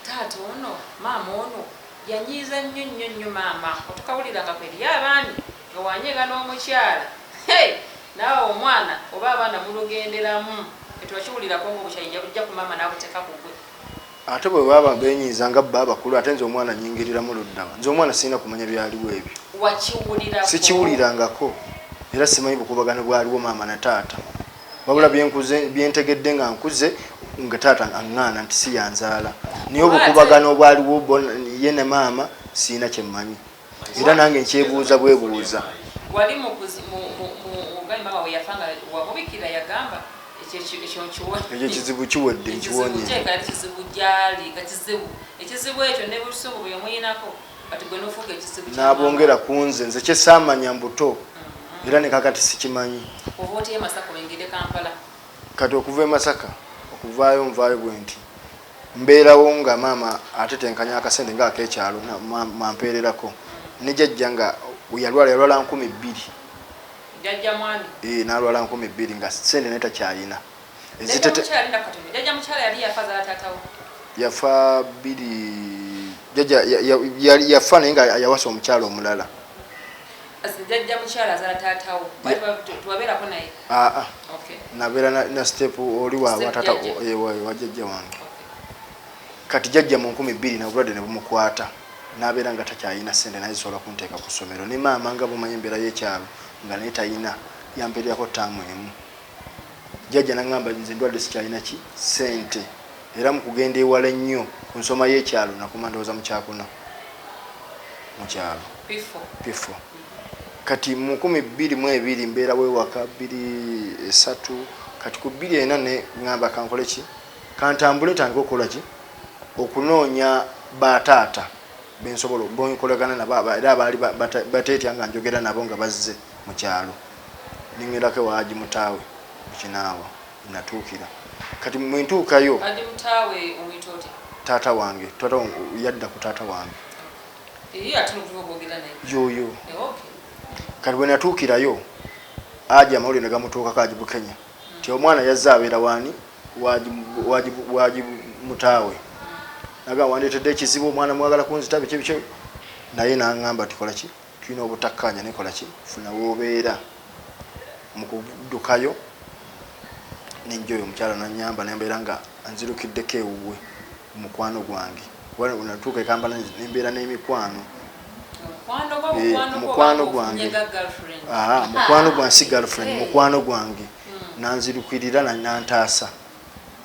taata ono maama ono yanyiiza nnyo nnyo nnyo maama otukawulira nga kweliyo abaami nga wanyega n'omukyala hey naawe omwana oba abaana mulugenderamu ffe tubakiwulirako nga obukyayi yabujja ku maama n'abuteka kugwe Ate bwe baba
benyiiza nga bbo abakulu ate nze omwana nnyingiriramu ludda wa? Nze omwana sirina kumanya byaliwo ebyo. Wakiwulirako? Sikiwulirangako era simanyi bukuubagano bwaliwo maama na taata wabula bye nkuze bye ntegedde nga nkuze nga taata aŋŋaana nti si y'anzaala naye obukuubagano obwaliwo bo ye ne maama sirina kye mmanyi. era nange nkyebuuza bwebuuza wali
mugambi mama weyafa nga wamubikira yagamba ekyo kizibu kiwedde
nkiwonyekizibu
gyali nga kizibu ekizibu ekyo ne busungu bwe yomuyinako kati gwe nofuuka ekizibu nabongera ku nze
nze kyesaamanya mbuto mm-hmm. era nekakati sikimanyi oba oteyo masaka
oyingire kampala kati okuva
e masaka okuvaayo nvaayo bwenti Mbeerawo nga maama atetenkanya akasente nga ak'ekyalo mw'ampeererako ne jajja nga we yalwala yalwala nkumi bbiri.
Jajja mwami. Yee n'alwala nkumi
bbiri nga ssente naye takyalina. Jajja mukyala yali na katono.
Jajja mukyala yali yafa azaala taata wo? Yafa
bbiri jajja yafa naye nga yawasa omukyala omulala.
jajja mukyala azala taata wo tewabelako
naye aa ah, ah. nabera na step oli wawatata wajajja wange kati jajja mu nkumi bbiri nabulwadde nebumukwata nabeera nga takyayina sente naye zisobola kunteeka ku ssomero ne maama nga bumanyi embeera yekyalo nga naye tayina yamperyako taamu emu jajja nagamba nze ndwadde sikyayina ki sente Era mu kugenda ewala ennyo ku nsoma y'ekyalo nakoma ndowooza mu kyakuna mu kyalo Piffo. Kati mu nkumi bbiri mu ebiri mbeera w'ewaka bbiri esatu kati ku bbiri ena ne ng'amba kankole ki kantambule ntandike okukola ki okunoonya ba taata be nsobola be nkolagana nabo era abaali bateetya nga njogera nabo nga bazze mu kyalo ne ŋŋendako ewa Haji Mutaawe mu Kinaawa. natuukira kati mwe ntuukayo taata wange taata wange yadda ku taata wange yoyo kati bwe natuukirayo aja amawulire ne gamutuukako aji bukenya mm. ti omwana yazze abeera waani waji mutaawe naga wandeetedde ekizibu omwana mwagala kunzita biki biki naye nangamba tikolaki Tulina obutakkaanya naye kola ki? Funa w'obeera. Mu kuddukayo ne njja oyo omukyala n'annyamba naye mbeera nga nzirukiddeko ewuwe ku mukwano gwange kuba we natuuka e Kampala ne mbeera n'emikwano. Mukwano gwange mukwano gwange si girlfriend mukwano gwange nanzirukirira nantaasa.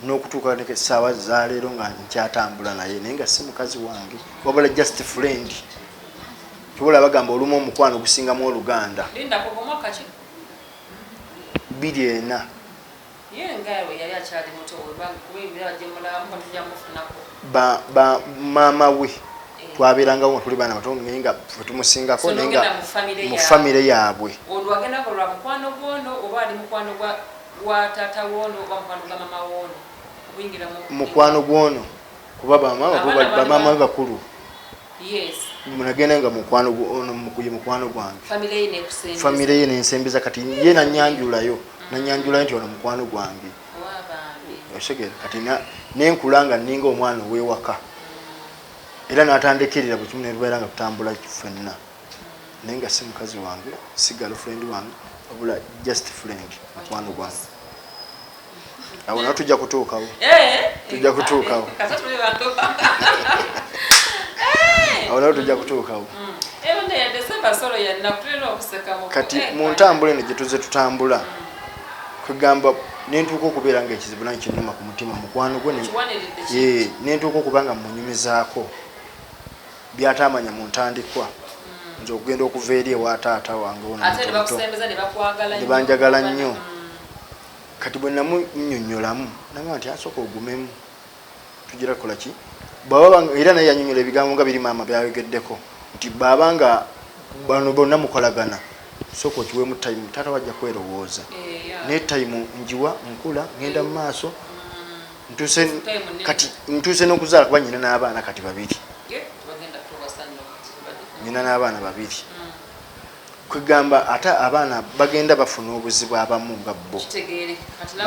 nokutuuka neka esaawa zaleero nga nkyatambula naye naye nga si mukazi wange wabula just friend kibola bagamba olumu omukwano gusingamu oluganda biri ena maama we eh. twabeerangawo nga tuli baana bato naye nga fwetumusingako naye nga mu famire yaabwe gwa taata woono oba mukwano gwa mama woono guyingira mu mukwano gwoono kuba bamaama be bakulu munagenda nga mukwano ye mukwano gwange famire ye nensembeza kati ye nanyanjulayo mm. nanyanjulayo nti ono mukwano gwange osegere kati nenkula nga ninga omwana owewaka mm. era natandekerera bwekimu nerubeera nga tutambula fenna naye nga si mukazi wange si girlfriend wange wabula just friend mukwano gwange awo nawe tujja kutuukawo eh, tujja kutuukawo eh, eh. awo nawe tujja kutuukawo mm. kati mu ntambula eno gyetuze tutambula mm. kwegamba nentuuka okubeera nga ekizibu nange kinuma ku mutima mukwano gwe nentuuka okuba nga munyumizaako byataamanya mu ntandikwa nze okugenda okuva eri ewa taata wange ononebanjagala nnyo kati bwe namunyonyolamu nagamba nti asooka ogumemu tugira kukola ki era naye yanyonyola ebigambo nga biri maama byayogeddeko nti baaba nga bano bonna mukolagana sooka okiwemu tayimu taata wajja kwerowooza eh, naye tayimu njiwa nkula ngenda mu maaso ntuse kati ntuse n'okuzaala kuba nyina n'abaana kati babiri nyina n'abaana babiri mm. kwegamba ate abaana bagenda bafuna obuzibu abamu nga bo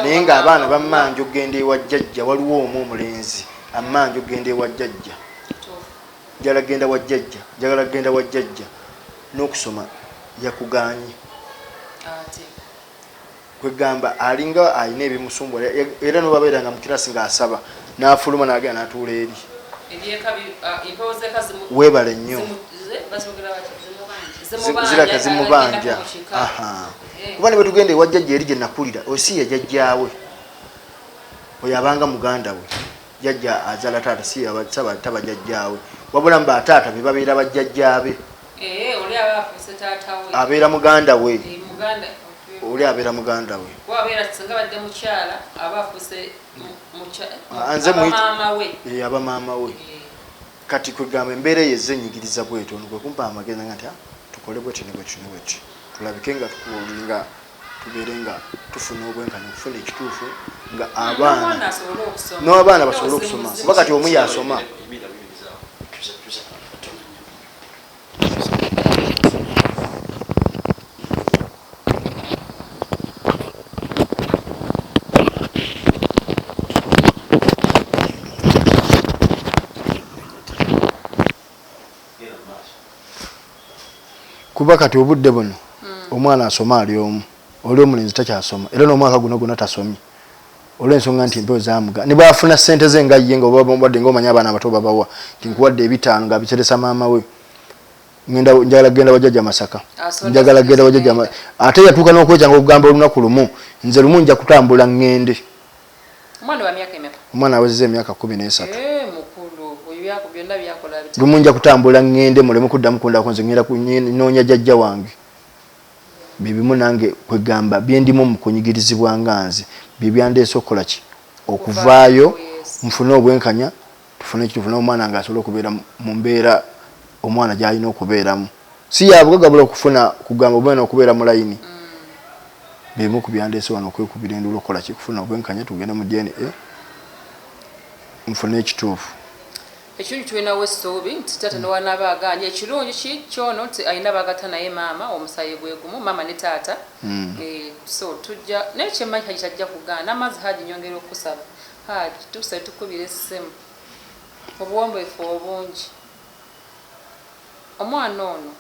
naye nga abaana bamanja okugenda ewa jjajja waliwo omu omulenzi amanja okugenda ewa jjajja njala genda wa jjajja njagala kugenda wa jjajja n'okusoma yakuganye kwegamba alinga alina ebimusumbu era nobabeeranga mukirasi nga asaba nafuluma nagenda natuula eri webale nnyo ziraka zimubanja eh. kuba nebwetugenda ewajjajja eri gyenakulira osi yajajjawe oyo abanga muganda we jajja azala taata siyaba taba jajjawe wabula mba taata bebabeera bajjajjabe Eh, oli aba afuuse taata we. abeera muganda we Eh, Muganda. okay. oli abeera muganda we Kuba abeera singa badde mukyala aba afuuse mu- mukya- Ah, nze aba muyita- maama we. Eh, aba maama we Eh, kati kwegamba embeera eyo ezze enyigiriza bwetyo ono kwe kumpa amagezi nga nti "Ah, tukole bwetyo ne bwetyo ne bwetyo tulabike nga tuku- nga tubeere nga tufuna obwenkanya okufuna ekituufu nga n'omwana abaana asobole okusoma. n'abaana basobole Ate okusoma ozimuzimu kuba kati omu yasoma Emira bibiriza. Tuza- tuza- tuza- kuba kati obudde buno hmm. omwana asoma ali omu oli omulenzi takyasoma era n'omwaka guno gona tasomye olwensonga nti empewo zamuga ne bwafuna sente ze nga ye nga obabade nga omanya abaana abato babawa nti nkuwadde ebitaano nga biteresa maama we ngenda njagala kugenda wajaja masaka njagala kugenda wajaja ate yatuuka n'okwejanga okugamba olunaku lumu nze lumu nja kutambula ngende omwana awezeza emyaka kumi n'esatu eh, lumu nja kutambula ngende muleme kuddamu kundako nze ngenda kunoonya jajja wange bye bimu nange kwegamba byendimu mu kunyigirizibwa nga nze bye byandeese okukola ki okuvaayo nfune obwenkanya tufune ekituufu naye omwana nga asobole okubeera mu mbeera omwana gyalina okubeeramu si yabugaga bula okufuna kugamba omwana okubeera mu layini mm. bimu ku byandeese wano okwekubira enduula okukola ki kufuna obwenkanya tugende mu DNA nfune ekituufu Ekirungi
tulinawo essuubi nti taata ne wanaaba agaanye ekirungi ki kyono nti alina bagatta naye maama omusaayi gwe gumu maama ne taata eh, so tujja naye kye mmanyi Hajji tajja kugaana amazzi Hajji nyongera okukusaba Hajji tukusabye tukukubira essimu obuwombeefu obungi omwana ono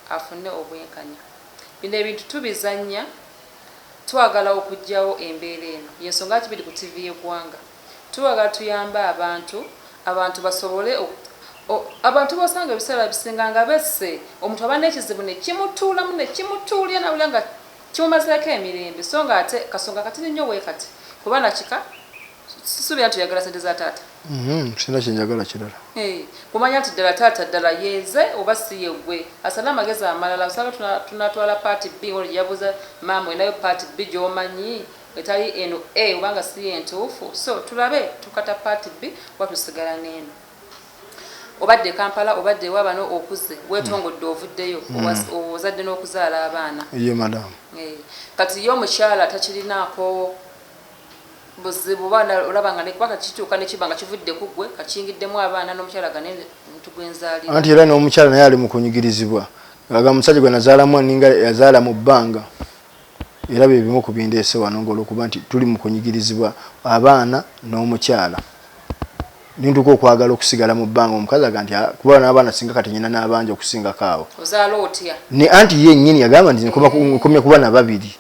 afune obwenkanya bino ebintu tubizannya twagala okujjawo embeera eno y'ensonga lwaki biri ku ttivi y'eggwanga Twagala tuyambe abantu, abantu basobole oku, o, abantu b'osanga ebiseera ebisinga nga besse, omuntu aba n'ekizibu ne kimutuulamu, ne kimutuulira n'awulira nga kimumazeeko emirembe, sso nga ate kasonga katini nnyo bwe kati ku baana kika, sisuubira nti oyagala ssente za taata. Mm-hmm, sirina kye njagala
kirala. Hee, kumanya nti
ddala taata ddala ye nze oba si ye ggwe. Asana amagezi amalala, osanga tuna, tunatwala part bbiri ng'ono gye yabuuza maama, olinayo part bbiri gy'omanyi? etali eno A oba nga si yentuufu so tulabe tukata part B oba tusigala neeno. Obadde e Kampala obadde ewa bano okuze wetongodde ovuddeyo ozadde n'okuzaala abaana. Ye madam. Eeh
kati ye
omukyala takirinaako buzibu oba olaba nga nekuba kati kituuka nekiba nga kivudde ku ggwe kati kiyingiddemu abaana n'omukyala gane omuntu gwenzaalira. Anti era n'omukyala
naye ali mu kunyigirizibwa aga musajja gwe nazaalamu aninga yazaala mu bbanga. era bye bimu ku bindeese wano ng'olwokuba nti tuli mu kunyigirizibwa abaana n'omukyala ne ntuuka okwagala okusigala mu bbanga omukazi aga nti kuba n'abaana singa kati nyina n'abanja okusingako abo
ne anti ye nnyini
yagamba nti nkomya kuba na babiri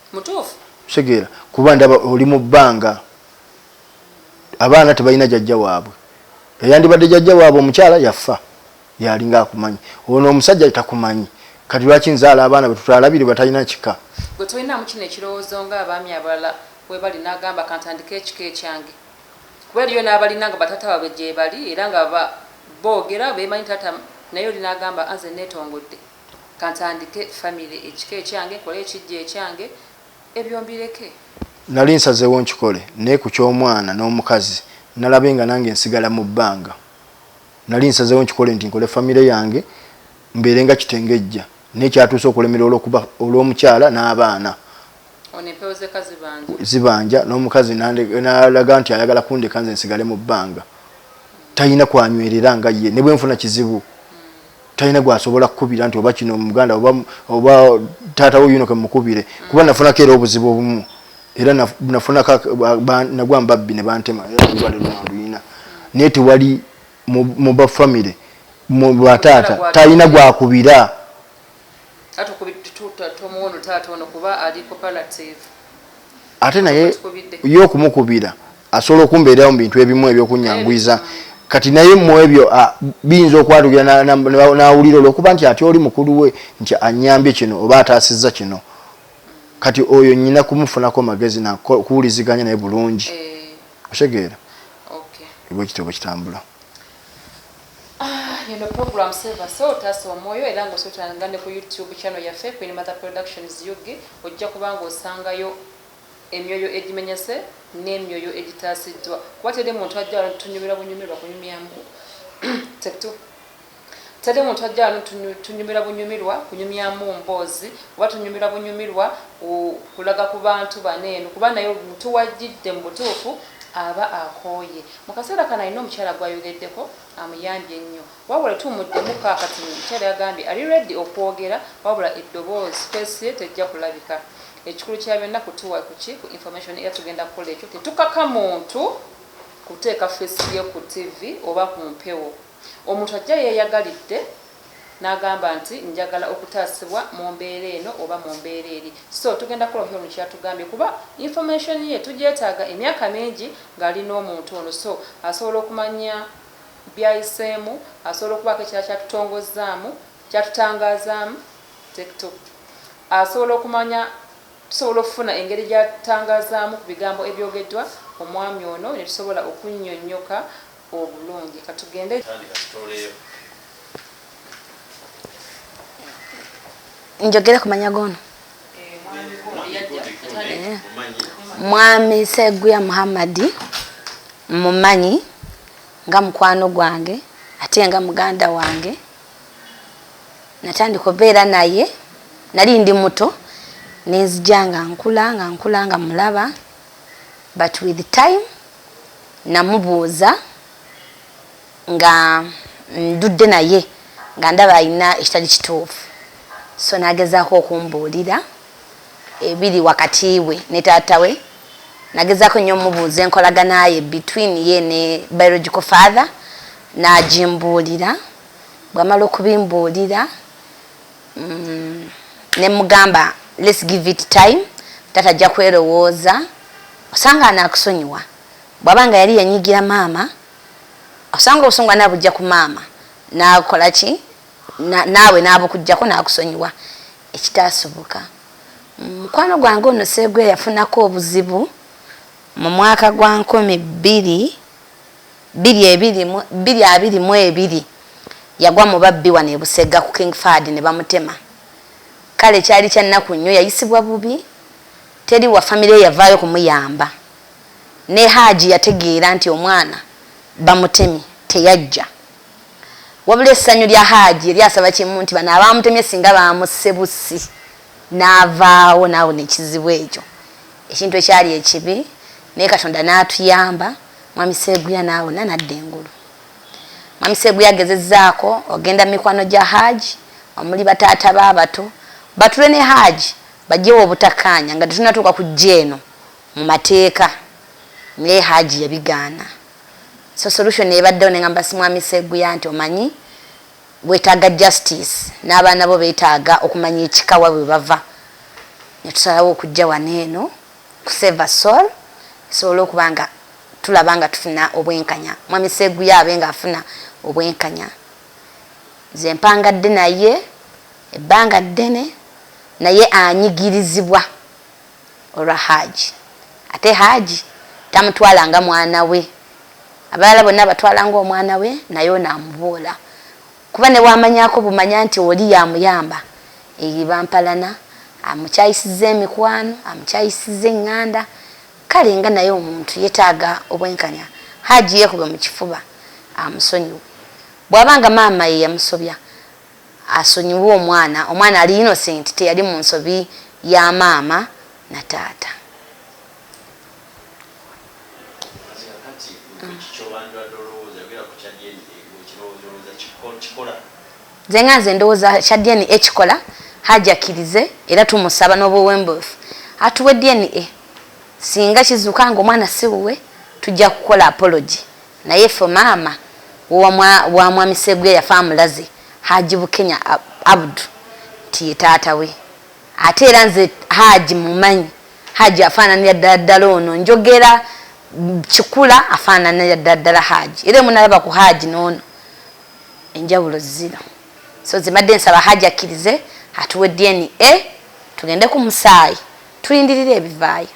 kitegeera
kuba
ndaba oli mu bbanga abaana tebalina jajja waabwe eyandibadde jajja waabwe omukyala yafa yalinga akumanyi ono omusajja takumanyi kati lwaki nzaala abaana bwe tutalabire batalina kika gwe tolinaamu kino
ekirowoozo nga abaami abalala webali nagamba kantandike ekika ekyange kuba eriyo n'abalina nga bataata babwe gyebali era nga ba boogera bemanyi taata naye oli nagamba anze netongodde kantandike famire ekika ekyange nkole ekijja ekyange ebyo mbireke nali nsazeewo
nkikole naye ku ky'omwana n'omukazi nalabe nga nange nsigala mu bbanga Nali nsazewo nkikole nti nkole famire yange mbeere nga kitengejja naye kyatuuse okulemera olwokuba olw'omukyala n'abaana zibanja n'omukazi nalaga nti ayagala kundeka nze nsigale mu bbanga talina kwanywerera nga ye ne bwe nfuna kizibu talina gwasobola kukubira nti oba kino muganda oba oba taata wo yuno kemukubire kuba nafunako era obuzibu obumu era nafunako nagwa mbabbi ne bantema era olwale lwanduyina naye tewali mu ba famire mu bataata talina gwakubira ate naye yo okumukubira asobola okumbeerawo mu bintu ebimu ebyokunyangwiza kati naye mu ebyo biyinza okwatulira n'awulira olwokuba nti ate oli mukulu we nti anyambye kino oba ataasizza kino kati oyo nyina kumufunako magezi nakuwuliziganya naye bulungi eh. otegeera bwekityo bwekitambula Ah,
eno program seva so otasa omwoyo era nga osotanga ne ku youtube channel yaffe queen mother productions ug ojja kubanga osangayo emyoyo egimenyese n'emyoyo egitaasiddwa kuba teri muntu ajja wano tunyumirwa bunyumirwa kunyumyamu tetu teri muntu ajja wano tunyumirwa bunyumirwa kunyumyamu mboozi oba tunyumirwa bunyumirwa kulaga ku bantu bano eno kuba naye omuntu wajjidde mu butuufu aba akooye Mu kaseera kano alina omukyala gw'ayogeddeko amuyambye ennyo wabula tetumuddemuko kaakati. Omukyala yagambye ali ready okwogera wabula eddoboozi, face, ye tejja kulabika. Ekikulu kya byonna kutuwa ku ki? Ku information era tugenda kukola ekyo. Tetukaka muntu kuteeka face ye ku ttivvi oba ku mpewo. Omuntu ajja yeeyagalidde n'agamba nti njagala okutaasibwa mu mbeera eno oba mu mbeera eri so tugenda kukola Hon kyatugambye kuba information ye tugyetaaga emyaka mingi ng'ali n'omuntu ono so asobola okumanya byayiseemu asobola okubaako ekirala kyatutongozzaamu kyatutangaazaamu tekto asobola okumanya tusobola okufuna engeri gyatangazaamu ku bigambo ebyogeddwa omwami ono ne tusobola okunnyonnyoka obulungi
katugende njogere ku manya gono eh, mwami seguya muhammadi mumanyi nga mukwano gwange ate nga muganda wange natandika obeera naye nali ndi muto nenzija nga nkula nga nkula nga mulaba but with time namubuuza nga ndudde naye nga ndaba alina ekitali kituufu so nagezaako okumbuulira ebiri wakati we ne taata we nagezaako nnyo omubuuza enkolaganaye between ye ne biological father nagimbuulira bwamala okubimbuulira mm, nemugamba let's give it time tata ajja kwerowooza osanga anakusonyiwa bwaba nga yali yanyigira maama osanga obusungu anabujja ku maama nakola ki naawe nabukujjako nakusonyiwa ekitasoboka mm, mukwano gwange ono seegwe yafunako obuzibu mu mwaka gwa nkumi bbiri bbiri abiri mu ebiri yagwa mu babbi wano e Busega ku King Fahad ne bamutema. Kale kyali kya nnaku nnyo, yayisibwa bubi, teri wa famire ye yavaayo kumuyamba. Ne Haji yategeera nti omwana bamutemye teyajja. Wabula essanyu lya Haji yali asaba kimu nti bano abaamutemye singa baamusse bussi n'avaawo n'awona ekizibu ekyo, ekintu ekyali ekibi naye Katonda n'atuyamba. Mwami Seguya naawe na nadda engulu. Mwami Seguya gezezzaako ogenda mu mikwano gya Haji omuli bataata be abato batuule ne Haji baggyewo obutakkaanya nga tetunnatuuka ku ggya eno mu mateeka naye Haji yabigaana. So solution ebaddewo ne ngamba Mwami Seguya nti omanyi weetaaga justice n'abaana bo beetaaga okumanya ekika wa bwe bava ne tusalawo okujja wano eno. ku save a soul tusobole okuba nga tulaba nga tufuna obwenkanya mwami Sseguya abe nga afuna obwenkanya nze mpangadde naye ebbanga ddene naye anyigirizibwa olwa haaji ate haaji tamutwala nga mwana we abalala bonna abatwala nga omwana we naye ono amubuula Kuba nebwamanyako bumanya nti oli yamuyamba eriba mpalana amukyayisiza emikwano amukyayisiza enganda kale nga naye omuntu yetaga obwenkanya Hajji yekube mukifuba amusonyiwe bwaba nga maama yeyamusobya asonyiwe omwana omwana ali innocent teyali munsobi ya maama na taata. nze nga nze ndowooza kya dna ekikola hajakirize era tumusaba n'obuwembuufu atuwe dna singa kizuuka nga omwana siwuwe tujja kukola apology naye fe maama wa mwami segwe yafa amulaze haji bukenya abdu nti ye taata we ate era nze haji mumanyi Haji afaananira ddala ddala ono njogera kikula afaananira ddala ddala Haji era emunalaba ku Haji n'ono enjawulo zino so zimadde nsaba Haji akkirize atuwe DNA tugende ku musaayi tulindirire ebivaayo.